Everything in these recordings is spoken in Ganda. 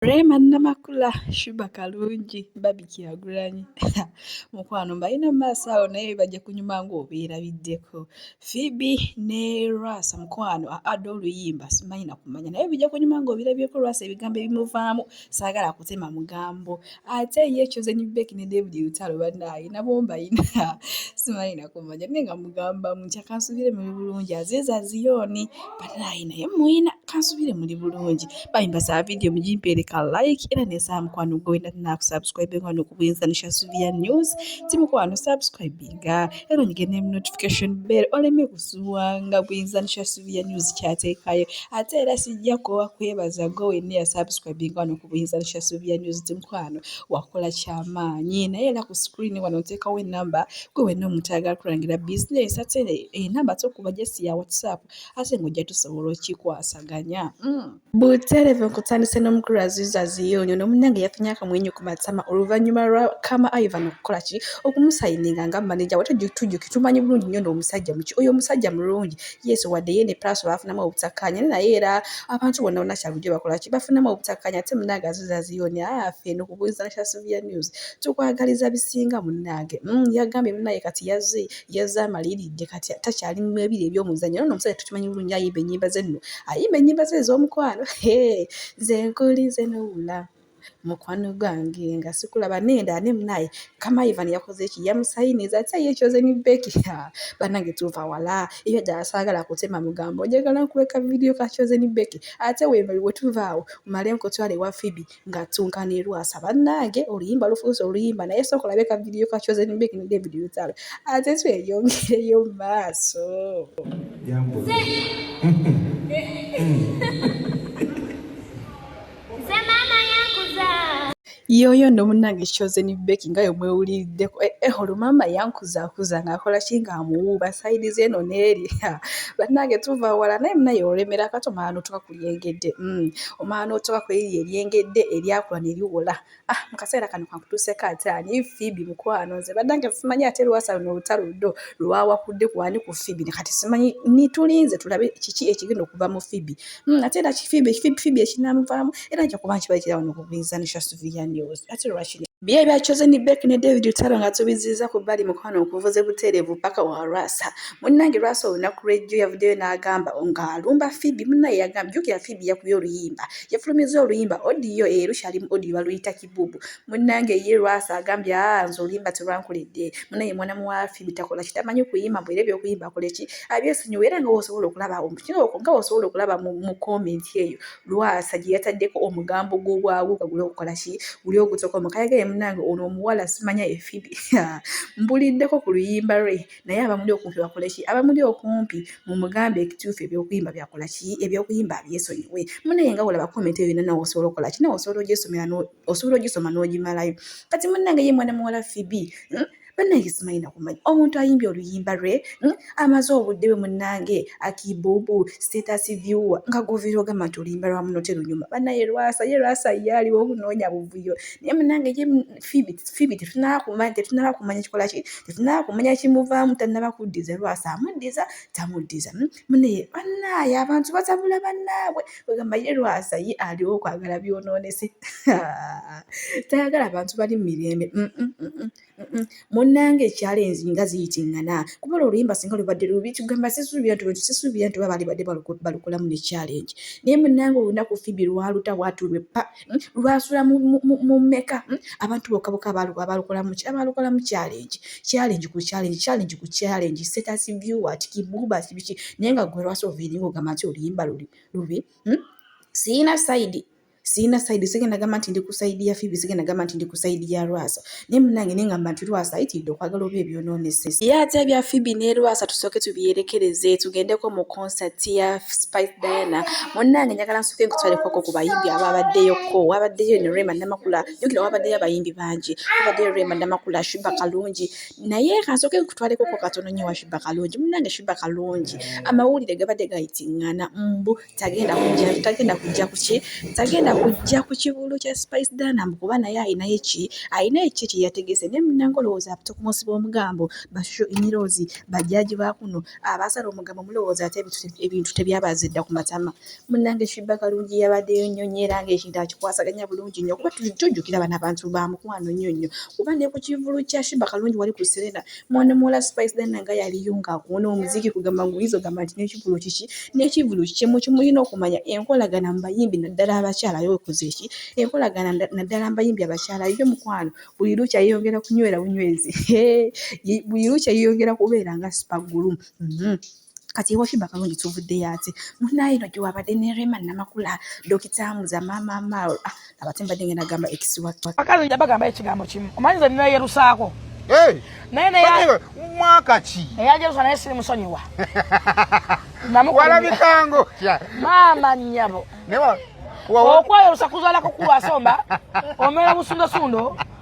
Rema Namakula Shuba Kalungi Babi Kyagulanyi mukwano mbalina mu maaso awo naye bajja kunyuma ng'obeerabiddeko Phoebe ne Rwasa mukwano aada oluyimba simanyi na kumanya naye bijja kunyuma ng'obirabyeko Rwasa ebigambo ebimuvaamu saagala kutema mugambo ate ye Chosen Becky ne David Lutalo bannaaye nabo mbalina simanyi na kumanya naye nga mugambamu nkyakansubire muli bulungi aziiza Ziyoni balayi naye muyina kansubire muli bulungi bayimba za vidiyo mugimpeereka like era neza mukwano gwe wenda nakusubscribe nga nokubuyinza nisha suvia news ti mukwano subscribinga era onyige ne notification bell oleme kusuwa nga buyinza nisha suvia news kyateekayo ate era sijja kuwa kwebaza gwe wenna yasubscribinga wano ku buyinza nisha suvia news ti mukwano wakola kyamaanyi naye era ku screen wano nteekawo enamba Gwe wenna omuntu ayagala kulangira bizinensi ate enamba eh, tokuba jesi ya watsapp ate ng'ojja tusobola okikwasaganya mm. buterevu nkutandise n'omukulu aziza ziyonyo nomunange yafunye akamwenyo ku matama oluvannyuma lwa kama ivan okukola ki okumusayininga nga maneja wate tujjuki tumanyi bulungi nnyo n'omusajja muki oyo omusajja mulungi yesu wadde ye ne pulaso baafunamu obutakkaanya ne naye era abantu bonna bonna kyabujo bakola ki bafunamu obutakkaanya ate munange aziza ziyonyo afe ah, nokubuuliza nasha sylvia news tukwagaliza bisinga munnange mm, yagambye munnange kati yaze yaze amaliridde kati takyali mu ebiri eby'omuzanyo nono omusajja tukimanyi bulungi ayimba ennyimba ze nno ayimba ennyimba ze ez'omukwano ze nkuli ze nowula mukwano gwange nga sikulaba nenda ane munaye kama ivan yakoze eki yamusayiniza ati aye ekyoze ni beki banange tuva wala ebyo ddala saagala kutema mugambo njagala nkuweka vidiyo kakyoze ni beki ate wetuva awo male nkutwale wa fibi nga ttunka ne lwasa bannange oluyimba lufuuse oluyimba naye sooka olabe ka vidiyo ka chosen big ne david lutalo ate tweyongereyo mu maaso yoyo no munange kyoze ni beki nga yomwe ulideko eh, eh holo mama yankuza kuza nga kola chinga mu ba side zeno neri banange tuva wala naye mnayo remera kato manu tuka eryengedde mm. omala n'otoka ku eriri eryengedde eryakula ne liwola ah mu kaseera kano kankutuuseko ate ani fibi mukwano nze baddange simanyi ate lwasa luno olutalo ludo lwawakudde kwani ku fibi ne kati simanyi nitulinze tulabe kiki ekigenda okuva mu fibi mm, ate era kifibi ekifibi fibi ekinamuvaamu era nja kuba nkiba ekira wano okugwiza ne shasuviya news ate lwaki bye bya chosen back ne david lutalo nga tubiziza ku bbali mukwano okuvuze buteerevu paka wa lwasa munnange lwasa olunaku lwejjo yavuddeyo n'agamba nga alumba fibi munnaye yagamba jjukira fibi yakubye oluyimba yafulumiza oluyimba odiyo eyo lukyali mu odiyo baluyita kibubu munnange ye lwasa agambye aa nze oluyimba terwankuledde munnaye mwana muwa fibi takola kitamanyi kuyimba mbwera ebyokuyimba akoleki abyesonyiwa era nga wosobola okulaba omukinoko nga wosobola okulaba mu komenti eyo lwasa gye yataddeko omugambo gw'obwagu nga guli okukola ki guli ogutoko mukayagaye munange ono omuwala simanya efibi mbuliddeko ku luyimba lwe naye abamuli okumpi bakoleki abamuli okumpi mumugambe ekituufu ebyokuyimba byakolaki ebyokuyimba abyesonyiwe munaye nga wolaba komenti eyo nanawe osobola okolaki nawe osobola ogisomera osobola ogisoma n'ogimalayo kati munange ye mwana muwala fibi hmm? banange simanyi nakumanya omuntu ayimbye oluyimba lwe hmm? amaze obudde bwe munange akibubu status viewer nga govira ogamba nti oluyimba lwa muno terunyuma banaye lwasa ye lwasa yaaliwo okunoonya buvuyo naye munange fibi tetunaba kumanya tetunaba kumanya kikola ki tetunaba kumanya kimuvaamu tanaba kuddiza lwasa amuddiza tamuddiza hmm? munaye bannaaye abantu batabula bannaabwe ogamba ye lwasa ye aliwo okwagala byonoonese tayagala abantu bali mu mirembe mm, mm, mm, munnanga ekyalo enzinga ziyitingana kuba olwo oluyimba singa lubadde lubi tugamba sisuubira nti sisuubira nti oba baalibadde balukolamu ne challenge naye munnanga olunaku fibi lwaluta waatulwe pa hmm, lwasula mu meka hmm, abantu bokaboka abalokola muki abalokola mu challenge challenge ku challenge challenge ku challenge status view at kibuba sibiki naye nga gwe lwasa oviringa ogamba nti oluyimba luli lubi hmm, siyina sayidi siyina sayidi sigenda gamba nti ndi ku sayidi ya fibi sigenda gamba nti ndi ku sayidi ya lwasa naye munange naye ngamba nti lwasa ayitiridde okwagala oba ebyononesesa ye ate ebya fibi ne lwasa tusooke tubyerekereze tugendeko mu concert ya spice diana munange njagala nsooke nkutwalekwako ku bayimbi aba abaddeyoko wabaddeyo ne rema namakula jukira wabaddeyo abayimbi bangi wabaddeyo rema namakula shuba kalungi naye kansooke nkutwalekoko katono nyo wa shuba kalungi munange shuba kalungi amawulire gabadde gayitingana mbu tagenda kujja tagenda kujja kuki tagenda kujja ku kivulu kya spice danam kuba naye alinayo eki alina eki kyeyategese naye munange olowooza ate kumusiba omugambo bashusho emirozi bajaji bakuno abasala omugambo mulowooza ate ebintu tebyabaza edda ku matama munange shibba kalungi yabaddeyo nnyo nyo era nga ekintu akikwasaganya bulungi nnyo kuba tujjukira bano abantu ba mukwano nnyo nnyo kuba ne ku kivulu kya shibba kalungi wali ku serena Mwana muwala Spice Diana nga yaliyo ng'akuwona omuziki kugamba ng'oyinza ogamba nti n'ekivvulu kiki n'ekivvulu kiki mu kimulina okumanya enkolagana mu bayimbi naddala abakyala yo wekoze ki enkolagana naddala mu bayimbi abakyala yo mukwano buli lukya yeeyongera kunywera bunywezi buli lukya yeeyongera kubeera nga sipagulu. Mhm. kati ewakimba kalungi tuvuddeyo ate munaye no gyewabadde ne rema namakula dokita muza mama mao ah, abate mbadde ngenda gamba ekisiwakalungi abagamba ekigambo kimu omanyi ze ninayerusaako naye naye mwaka ki eyajerusa naye siri musonyiwa walabikango maama nyabo okwayerusa kuzalako kulwasomba omera busundasundo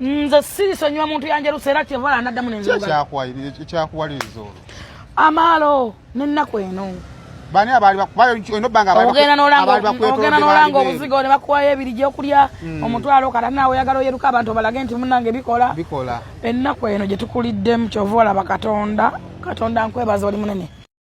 nze sirisonyiwa muntu yanjerusa era kyevala naddamu nekyakyakuwaliriza olwo amaalo nennaku eno bani abali bakubayo eno banga abali ogenda nolanga ogenda nolanga obuzigo ne bakuwayo ebiri gye okulya hmm. omutwalo kata nawe oyagala oyeruka abantu balage nti munange bikola bikola ennaku eno gye tukuliddemu kyova olaba katonda katonda nkwebaza oli munene